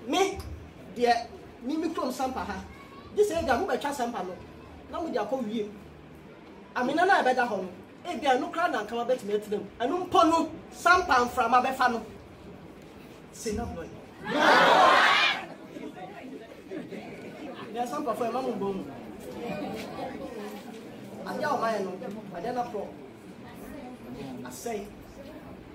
Me deɛ, me me kurom sampa ha, gye sɛ ebia mobɛtwa sampa no na mode akɔ wiem. Amena no a ɛbɛda hɔ no, ebia ɛno koraa na anka moabɛtumi atena mu. Ɛno mpo no, sampa mframa bɛfa no. Se na blɔe. Deɛ sampafo ɛma mo bɔ mu. Adeɛ a wɔmayɛ no, adeɛ no aporɔ. Asɛe.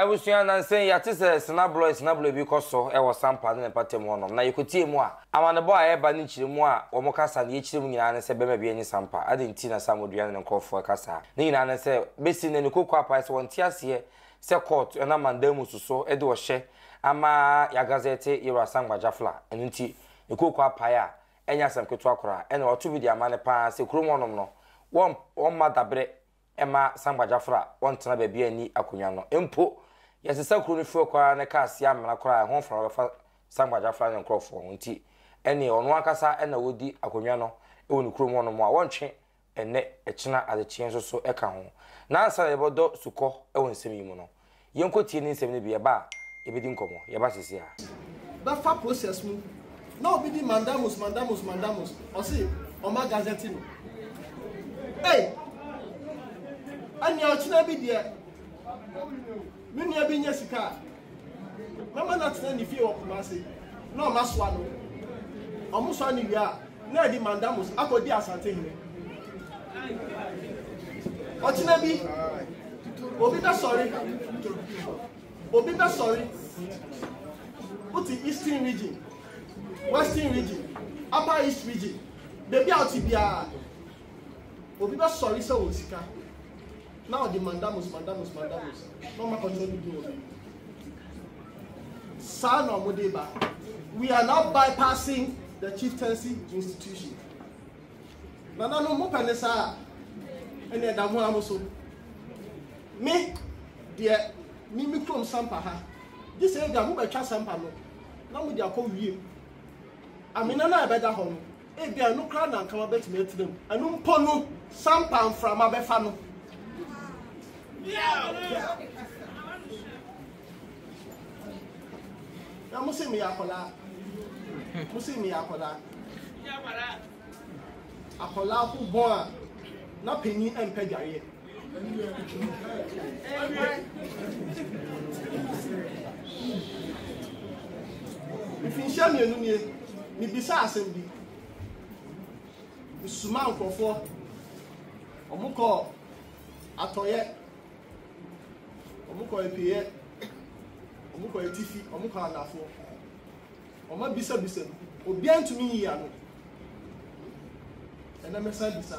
Abusua nnansa yi yɛate sɛ sinabrɔe sinabrɔe bi kɔ so wɔ Sampa ne ne mpatamu hɔnom, na yɛkɔtie mu a, amanebɔ a ɛreba ne nkyeremu a wɔka saa deɛ ɛkyerɛ mu nyinaa ne sɛ bɛrima biara nni Sampa. Adɛn nti na Sam Odua ne ne nkorɔfoɔ reka saa? Ne nyinaa ne sɛ, bɛsi nnɛ no Kokoo apae sɛ ɔnte aseɛ sɛ court nam mandamus so de ɔhyɛ ama yɛagazɛte Yero Asangba Jafla. Ɛno nti ne Kokoo apae a ɛnyɛ asɛm ketewa koraa, ɛna wato bi de ama no pa ara sɛ kurom hɔnom no wɔmma daberɛ mma sankwagyafoɔ a wɔntena baabi a nni akonnwa no mpo. Yɛnsesa kuro no fie kɔ ara na kaa si amena koraa a, ɛho mframa bɛfa sankwagyafoɔ no ne ne nkurɔfoɔ ho. Enti ɛnneɛ ɔno ankasa na ɔdi akonnwa no wɔ ne kurom hɔnom a wɔntwe ɛnnɛ, ɛkyena, adekyeeɛ nso so ka ho. Na ansa na yɛbɛdɔ sukɔ wɔ nsɛm yi mu no, Yɛnkɔ tie ne nsɛm no bi yɛba a yɛbɛdi nkɔmmɔ. Yɛba seesei ara. bɛfa process mu na obi di mandamus mandamus mandamus ɔse ɔma gazette no ei ɛnea ɔkyena bi deɛ me nua bi nyɛ sika a mɛma no atena ne fie wɔ Kumasi na ɔma soa no ɔmo soa no wie a na ɛde mandamus akɔdi Asantehene. Ɔkyena bi, obi bɛsɔre, obi bɛsɔre, wote Eastern region, Western region, Upper East region, baabi a wote biara, obi bɛsɔre sɛ wɔ sika. Na ɔde mandamus mandamus mandamus na ɔma kɔtɔ no bi wɔ bi saa na ɔmo de ba we are now bypassing the chieftaincy institution nana no mo pɛ ne saa ɛna ɛda mo amo so me deɛ me me kurom sampa ha gye sɛ ebi a mo bɛtwa sampa no na mo de akɔ wiem amena no a ɛbɛda hɔ no. Ebia ɛno koraa na anka wabɛtumi atena mu. Ɛno mpo no, sampa mframa bɛfa no. Na mo se meyɛ akwadaa. Mo se meyɛ akwadaa. Akwadaa ho bɔn a na panyin mpɛ dwareɛ. mfinhyia mmienu nie mebisa asɛm bi mesoma nkurɔfoɔ ɔmo kɔ atɔyɛ ɔmo kɔ apieɛ ɔmo kɔ atifi ɔmo kɔ anafoɔ ɔmo abisabisa mu obiara ntumi nyi ano ɛnna mɛsan bisa.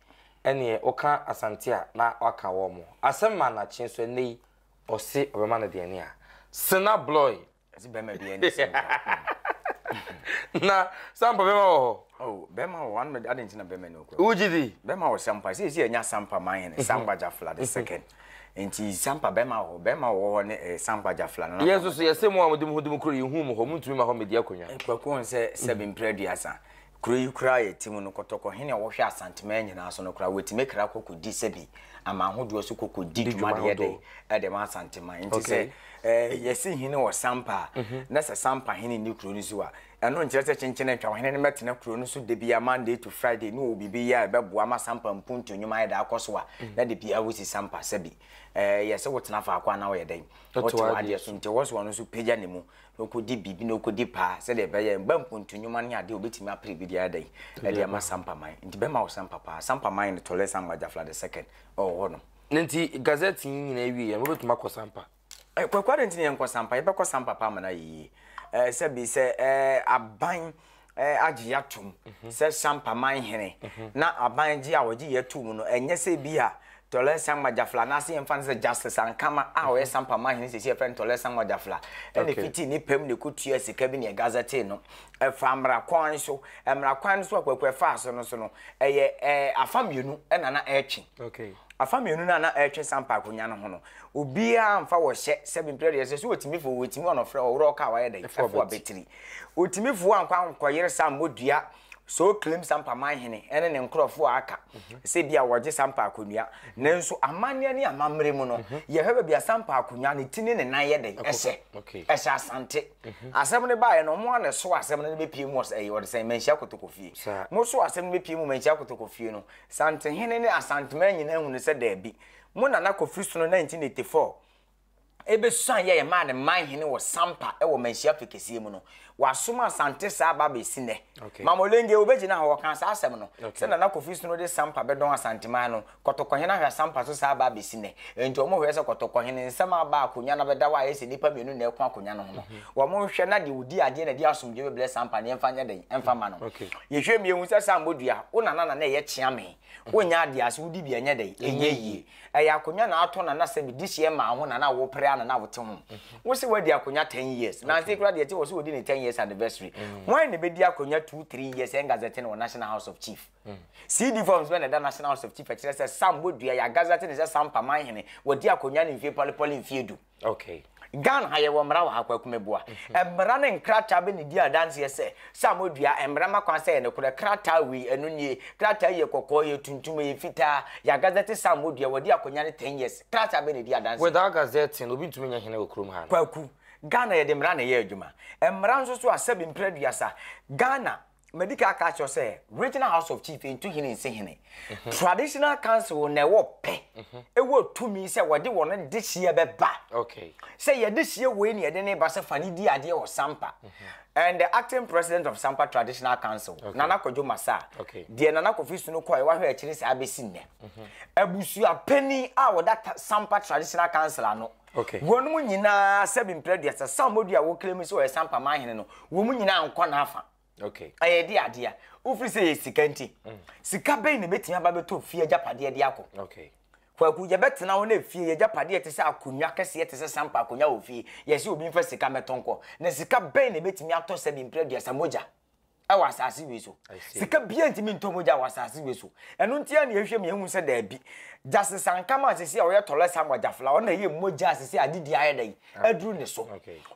Ɛneɛ woka Asante a na waka wɔn mo asɛm ma Anakye nso ɛnɛ yi ɔse ɔbɛma no deɛ ne a Sena Bloy Ɛse bɛma deɛ ne sɛ mpa Na Sampa bɛma wɔ hɔ? Oh bɛma wɔ hɔ ade nti na bɛma ni okura Wogye di? Bɛma wɔ Sampa sɛ ɛsi ɛnya Sampa ma hene Sampa Jafla the second Nti Sampa bɛma wɔ hɔ bɛma wɔ hɔ ne Sampa Jafla no Yɛn nso so yɛse mo a mode mo ho di mo kuro yi hu mo hɔ mo ntumi ma hɔ media akonwa Kwaku ɔnsɛ sɛbe mprɛ aduasa. Kuro yi koraa yɛ ti mu no kɔtɔkɔ hene a ɔhwɛ Asanteman nyinaa so no koraa wɔtumi kra kɔ kɔdi sɛbi aman ahodoɔ so kɔ kɔdi dwuma deɛ dɛn de ma Asanteman nti sɛ yɛsi hene wɔ Sampa a na sɛ Sampa hene nni kuro no so a ɛno nkyerɛ sɛ kyenkyene ntwa ɔhene no mɛtena kuro no so da biara Monday to Friday ne ɔwɔ biribi yɛ a ɛbɛboa ma Sampa mpuntu nnwuma ayɛ dɛ akɔ so a na de biara wosi Sampa sɛbi yɛsɛ wotena faako a na woyɛ dɛn wote w'adeɛ so nti ɔwɔ so ɔno nso pagya ne mu na ɔkɔdi biribi na ɔkɔdi paa sɛdeɛ ɛbɛyɛ mba mpontu nnwuma ne adeɛ ɔbɛtumi apere bi deɛ ada yi ɛde ama sampaman nti bɛma wo sampa paa sampaman no tɔlɛ sampa gyafla the second ɛwɔ hɔ no na nti gazette yi nyina awie yɛn wobɛtumi akɔ sampa eh, kwakwade nti ne yɛnkɔ sampa yɛbɛkɔ sampa paa ma no ayɛ yie eh, sɛbi sɛ eh, aban agye yɛn atom sɛ Sampa Manhene na aban gye a wɔgye yɛn too mu no, ɛnyɛ sɛ ebia Tɔlɛ Sangma Jafla anaasɛ yɛmfa no sɛ Justice Ankama a ɔyɛ Sampa Manhene sɛsi yɛfrɛ no Tɔlɛ Sangma Jafla ɛna fitii ne pɛm ne kɔtua sika bi ne ɛgazɛtee no ɛfa mmara kwan so mmara kwan no so akwaku ɛfaa so no so no ɛyɛ ɛɛ afa mmienu ɛna na ɛretwe okay afa mmienu no a na ɛretwe sampa akonya no ho no obiara mfa wɔhyɛ sɛ bimprɛ deɛ sɛ so wɔtumi fo wɔtumi ɔnɔfrɛ ɔworɔ ɔka wayɛ dɛ ɛfo abɛtiri Otumi foa nkwa ahokɔyere sa mmɔ dua sɛ ɔreclaim sampa man hene ne ne nkurɔfoɔ a aka sɛ bi a wɔregye sampa akonnwa. Nanso amanneɛ ne amammerɛ mu no, mhm. yɛhwɛ baabi a sampa akonnwa ne ti ne ne nan yɛ dɛn ɛhyɛ. Ɛhyɛ asante. Mhm. Asɛm no baeɛ no, wɔn a na ɛso asɛm no bɛpie mu ɛyɛ wɔde sɛn manhyia kotokofie. Mo so asɛm no bɛpie mu manhyia kotokofie no, santehene ne asantema nyinaa hunu sɛ daabi. Mo nana kɔfiri so no 1984 ɛbɛsuan yɛɛ maa ne man hene wɔ Sampa wɔ Manhyia Fe kɛseɛ mu no, wɔasoma Asante saa aba abɛsi nnɛ. Okay. Mama Olenge wobɛgyina hɔ wɔkaa saa asɛm no okay. sɛ Nana Kofi Snow de Sampa bɛdɔn Asanteman no, Kɔtɔkɔhene ahwɛ Asampa so saa aba abɛsi nnɛ. Enti wɔn hwɛ sɛ Kɔtɔkɔhene nsɛm aba akonnwa no abɛda hɔ a ɛyɛ sɛ nnipa mmienu na ɛko akonnwa no ho no. Mhm. Wɔn nhwɛ na deɛ ɔdi adeɛ na ɛde asomdwe bɛbrɛ Sampa no yɛmfa nyɛ dɛn ɛmfa ma no. Yɛhwɛ mmienu sɛ Sambodua wo nana na na ɛyɛ kyeame. Wonya adeɛ ase wodi bi ɛnyɛ dɛn ɛnyɛ yie. Ɛyɛ akonwa na atɔ na na sɛ mede hyeɛ maa ho na na wo pere a na na wo te ho. Wo se wadi akonwa ten years. Nansi kura deɛ te wɔ so wodi ne ten years anniversary. Hwan na ɛbɛdi akonwa two three years ɛngazɛte no wɔ National House of Chief? CD forms bɛ na ɛda National House of Chief ɛkyerɛ sɛ Sam Bodua yɛ agazɛte ne sɛ Sam Pamanhene wadi akonwa ne mfie pɔlepɔle mfie du. Okay. Ghana ha yɛwɔ mmara wɔ ha kwaku meboa. Mm-hmm. Mmara ne nkrataa bɛ ne di adanseɛ sɛ sɛ a modua mmara ma kwan sɛ yɛ ne korɛ krataa wei ɛno nie krataa yɛ kɔkɔɔ yɛ tuntum yɛ fitaa yɛ agazɛte sɛ a modua wɔde akɔnya ne 10 years krataa bɛ ne di adanseɛ. Without gazette no obi ntumi nyɛ hene wɔ kurom ha no. Kwaku Ghana yɛde mmara na ɛyɛ adwuma. Mmara nso so a sɛbi mprɛ duasa Ghana Madi kan aka akyerɛ sɛ Regional House of Chief ntu hene nsi hene. Mhm. Traditional Council na ɛwɔ pɛ, mhm. ɛwɔ tumi sɛ wɔde wɔn dehyeɛ bɛba. Okay. Sɛ yɛdehyeɛ wei ne yɛde ne ba sɛ fa ne di adeɛ wɔ Sampa. Mhm. And the acting president of Sampa Traditional Council, okay. Nana Kwadwo Masa, okay. deɛ Nana Kofi Sunu kɔɛ wahwɛ akyiri saa bɛsi nnɛ. Abusua panin a wɔda Sampa Traditional Council ano. Wɔnom nyinaa sɛbi mprɛ aduasa Sam Modu a wɔclaimi sɛ ɔyɛ Sampa man hene no, wɔn nyinaa nkɔ n'afa. Ɛyɛ ɛdeɛ adeɛ wofiri sɛ ɛyɛ sika nti. Sika bɛn na ɛbɛtumi aba bɛtɔ efie agyapadeɛ de akɔ? Kwaku, yɛbɛtena hɔ na efie yɛ agyapadeɛ te sɛ akonnwa kɛseɛ te sɛ Sampa akonnwa wɔ fie, yɛse obi mfa sika mmɛtɔ nkɔ. Na sika bɛn na ɛbɛtumi atɔ sɛbi mprɛ aduasa mogya? ɛwɔ asase wei so sika bia ntumi ntɔ mogya wɔ asase wei so ɛno nti a na yɛhwɛ mu yɛhu sɛ daabi gyase sankama a sisi a ɔyɛ tɔlɛ sam agyafla ɔna ɛyɛ mogya a sisi adedi ayɛ dɛ aduru ne so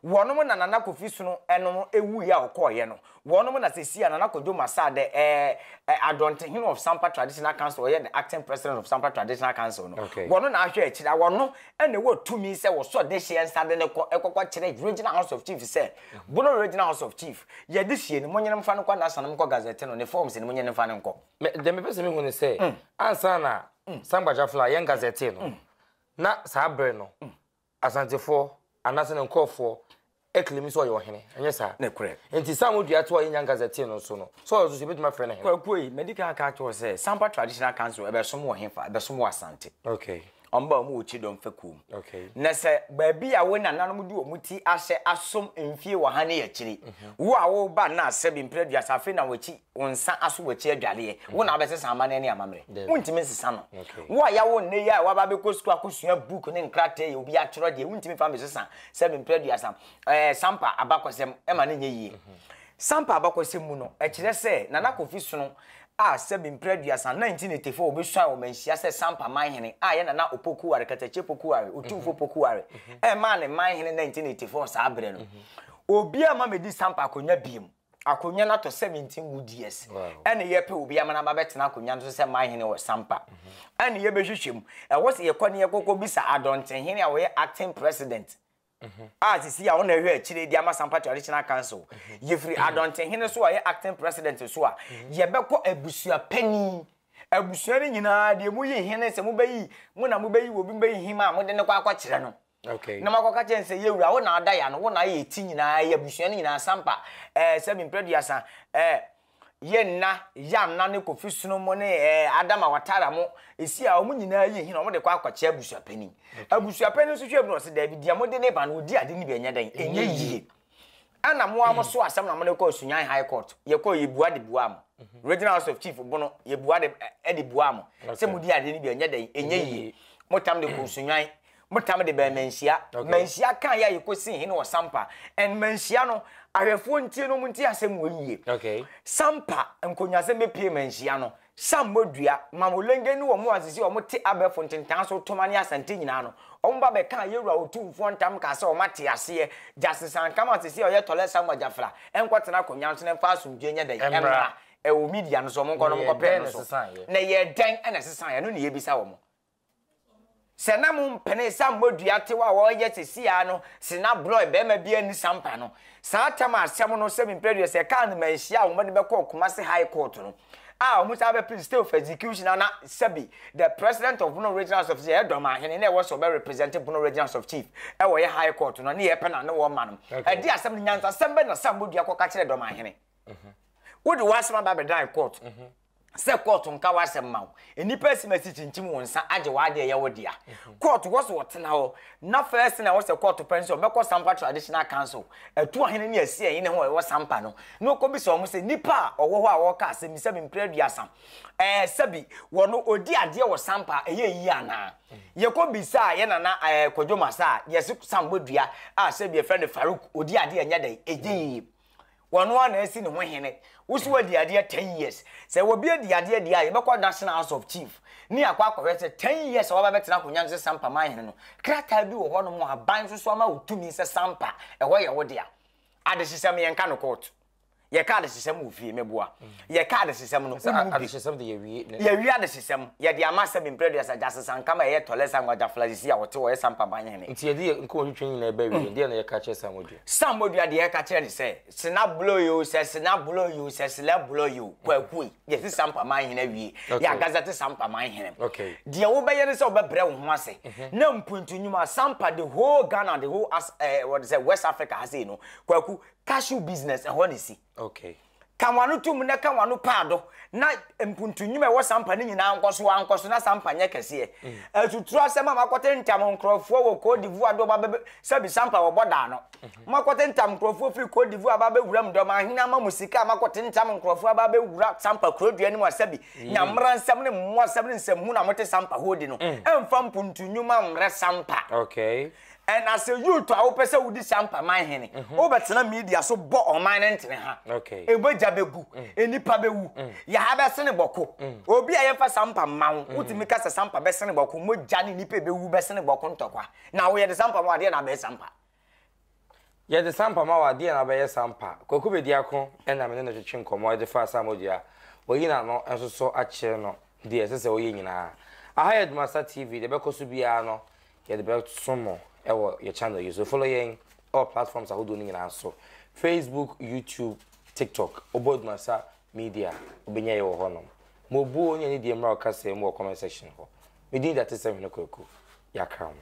wɔnom na nana kofi sono ɛnom ewu yɛ a ɔkɔɔyɛ no wɔnom na sisi a nana kodwo masa dɛ ɛɛ adɔntehene of sampa traditional council ɔyɛ the acting president of sampa traditional council no wɔno na ahwɛ akyire wɔno ɛna ɛwɔ tumi sɛ wɔsɔ de hyɛ nsa de ne kɔ ɛkɔkɔ kyerɛ regional house of chief sɛ bono regional house of chief Yɛ de sie no, monye no mfa no nkɔ Nasa na monkɔ Gazette no ne forms no, monye no mfa no nkɔ. Me, deɛ mepɛ sɛ mehu ne sɛ, ansa na Sangba Jafla ayɛn Gazette no, na saa bere no, Asantefoɔ, anaase ne nkorɔfoɔ, ɛclaimi sɛ ɔyɛ ɔhene, ɛnyɛ saa? Nokorɛ. Enti saa a modua toɔ a yɛnnya Gazette no so no, sɛ ɔyɛ ɔso so yɛbɛtumi afrɛ no hene? Kwaku ei, madi kan aka akyerɛ wo sɛ, Sangba Traditional Council ɛbɛsom wɔ hefa? Ɛbɛsom wɔ Asante. Okay. Wɔn ba wɔn wɔ kyidɔm fɛkuo mu. Okay. Na sɛ baabi a wo nananom de wɔn ti ahyɛ asom mfie wɔ ha ne akyiri. Mhm. Wo a wo ba na asɛ bi mpere aduasa afei na wɔakyi wo nsa aso wɔakyi adwareɛ. Mhm. Wo na abɛsesa amanɛ ne amammerɛ. Wontumi nsesa no. Okay. Wo a yawo nnɛ yi a waba bɛkɔ sukuu akɔsua book ne nkrataa yi obi atwerɛ deɛ wontumi fa mbɛsesa sɛ bi mpere aduasa. Ɛɛ eh, sampa abakɔsɛm ɛma ne nyɛ yie. Mhm. Sampa abakɔsɛm mu no ɛkyerɛ sɛ Nana Kofi Sono a sɛbi mprɛ aduasa, 1984, ɔbɛsuae wɔ Manhyia sɛ Sampa Manhene a yɛ Nana Opokuware, Katakye Pokuware, Otumfo Pokuware, ɛmaa no Manhene 1984 saa berɛ no. Obiara mma mɛdi Sampa akonwa biom. Akonwa no atɔ 17 good years. Ɛne yɛpɛ obi ama no aba bɛtena akonwa no so sɛ Manhene wɔ Sampa. Ɛne yɛbɛhwehwɛ mu. Ɛhɔ sɛ yɛkɔ no yɛkɔkɔ bisa Adɔntenhene a ɔyɛ Acting President. a sisi a ɔna ɛhwɛ akyire de ama Sampa Traditional Council. Yɛfiri Adɔnten Hene so a ɔyɛ Acting President so a, yɛbɛkɔ abusua panin. Abusua no nyinaa deɛ mo yi hene sɛ mo bɛyi, mo na mo bɛyi obi mo bɛyi hima a, mo de no kɔ akɔ kyerɛ no. Okay. Na mo akɔ ka kyerɛ no sɛ yɛwura wo na ada ya no, wo na ayɛ ti nyinaa, ɛyɛ abusua no nyinaa, Sampa, ɛɛ sɛ mempere aduasa, ɛɛ. Yɛ nna, ya nna ne kofi sono mo ne ɛɛ adama watara mo esi a wɔn nyinaa yi hin na wɔn de kɔ akɔkyɛ abusuapanin abusuapanin nso hwɛ bi na ɔsi dɛbi deɛ mo de ne ba no odi ade ne bi ɛnyɛ dɛn ɛnyɛ yie ɛna mo a mo so asɛm na mo de kɔ sunyan high court yɛ kɔ yɛ bua de bua mo mhm. regional house of chief bono yɛ bua de ɛde bua mo sɛ mo di ade ne bi ɛnyɛ dɛn ɛnyɛ yie mo tam de kɔ sunyan Motam de bɛn manhyia. Okay. Manhyia kan yɛ a yɛkɔsii hene wɔ Sampa. And manhyia no, ahwɛfoɔ ntie no, ɔmo ntie asɛm wɔ yie. Okay. Sampa, nkonyasɛm bɛpie manhyia no. Sammɔ dua, Mamolenge ne wɔn a sisi wɔn te abɛɛfo ntentan so, Toma ne Asante nyinaa no, wɔn ba bɛkaa Yɛwura Otumfoɔ ntam kaa sɛ wɔn ate aseɛ. Justice Ankama a sisi ɔyɛ Tɔlɛ Samuel Gyafra nkɔtena akonnwa no so na ɛmfa asomdwoeɛ nyɛ dɛn? Ɛmmra. Ɛwɔ media no so, wɔn nkɔ no wɔn nkɔpɛ no so. Na ɛyɛɛ dɛn na ɛsesaeɛ? Ɛno na yɛbisa wɔn. Sɛ na mo mpene sa mmɔ dua tew a wɔyɛ sesii ara no se na brɔe barima biara nni sampa no. Saa tam a asɛm no sɛ me mpere aduasa ɛkaa no maa nhyiaa a wɔde bɛkɔɔ Kumasi High Court no a wɔn saa bɛpere stay of execution a na Sabi the president of Bono Regionals of Chief ɛyɛ dɔmahene na ɛwɔ sɛ ɔbɛ represent Bono Regionals of Chief ɛwɔ ɛyɛ High Court no ne yɛ pɛ na ne wɔn ma no ɛde asɛm no nyansasɛm bɛ na sa mmɔ dua kɔka kyerɛ dɔmahene wode w'asɛm aba abɛdan court. Mm-hmm. sɛ kɔɔto nka w'asɛm ma wo. Nnipa asim asi kyinkyim wo nsa agye w'ade a ɛyɛ wo dea. Kɔɔto hɔ so ɔtena hɔ. Ná first na ɛwɔ sɛ kɔɔto pɛ ne sɛ ɔbɛkɔ Sampa Traditional Council, Atuahene ne Asiahene hɔ a ɛwɔ Sampa no, na ɔkɔbisa wɔn sɛ nnipa a ɔwɔ hɔ a ɔreka asɛm yi sɛbe mprɛ aduasa ɛɛ sɛbe wɔ no ɔdi adeɛ wɔ Sampa a ɛyɛ yie anaa. Yɛkɔbisaa yɛ nana ɛɛ Kwadwo Masa a yɛse Sambodua a sɛbe yɛfrɛ no Farouk ɔdi adeɛ a ɛnyɛ dɛn ɛnyɛ yie. Wano ara na asi ne ho hene. Wo so wadi adeɛ ten years. Sɛ obi adi adeɛ deɛ a, yɛbɛkɔ National House of Chief ne akɔ akɔhwɛ sɛ ten years a waba bɛtena akonnwa no sɛ Sampa manhene no, krataa bi wɔ hɔnom a aban nso so ama wo tumi sɛ Sampa, ɛhɔ yɛ wo dea. Adehyesɛm, yɛnka no kɔɔto. Yɛka adehyesɛm wɔ fie, mɛboa. Yɛka adehyesɛm no, wone mu bi. Adehyesɛm de yɛwie ne. Yɛwie adehyesɛm. Yɛde ama asɛm mprɛ aduasa gya sesanka ma ɛyɛ tɔlɛ sa nwagya flasisi a ɔte hɔ yɛ sampa ban hene. Nti yɛde yɛ nkɔɔ twitwa nyinaa ba wie, deɛ na yɛka kyerɛ sa mɔdua. Sa mɔdua deɛ yɛka kyerɛ ne sɛ, sena blɔ yi o, sɛ sena blɔ yi o, sɛ selɛ blɔ yi o, kwaku ei, yɛsi sampa man hene awie, yɛ agaza te sampa man hene m. Deɛ wo bɛyɛ ne sɛ wo bɛ brɛ wo ho ase, na mpuntu nwuma, sampa the whole Ghana, the whole as eh, wɔde sɛ West Africa ha sei no, kwaku, cashew business, ɛhɔ na esi. Okay. Ka w'ano to mu na ka w'ano paado na mpuntunnwuma a ɛwɔ sampa no nyinaa nkɔ so ara nkɔ so na sampa nyɛ kɛseɛ. Mm. Atuturu asɛm a moakɔte ntam nkurɔfoɔ wɔ Cote d'Ivoire de wɔba bɛbɛ sɛbi sampa wɔ bɔdaa no. Mm-hmm. Moakɔte ntam nkurɔfoɔ firi Cote d'Ivoire aba abɛwura mu dɔm ahene ama mo sika a moakɔte ntam nkurɔfoɔ aba abɛwura sampa kurodua no mu asɛbi mm. nyamera nsɛm ne mmoasɛm ne nsɛmhu na mote sampa hɔ di no. Mm. Ɛmfa mpuntunnwuma mmrɛ sampa. Okay. Na sɛ youth a wopɛ sɛ wodi Champa man hene, wobɛtena media so bɔ ɔman no ntene ha. Mogya bɛgu, nnipa bɛwu, yɛha bɛsene bɔko. Obi a yɛmfa Champa mma wo, wotumi ka sɛ Champa bɛsene bɔko, mogya ne nnipa a ɛbɛwu bɛsene bɔko ntɔkwa. Na woyɛ de Champa ma wo, adeɛ na abɛyɛ Champa? Yɛde sampa ma wo a, deɛn na wobɛyɛ sampa? Kwaku Bediako na me ne no twetwe nkɔmmɔ de faa Sam Oduah, wɔayi n'ano nso so akyere no, deɛ ɛsɛ sɛ ɔyɛ nyinaa. Aha yɛ Dumasa TV, deɛ ɛbɛkɔ so biara no, yɛde bɛso mo wɔ yɛ channel yi so. Follow yɛn wɔ platforms ahodoɔ no nyinaa so, Facebook, YouTube, TikTok. Wobɔ Dumasa Media a, wobɛnya yɛn wɔ hɔnom. Mo buo ne anidie mmra wo kasaa mu wɔ comment section hɔ. Me din de Atesɛm Hene Kwaku. Yɛakra mo.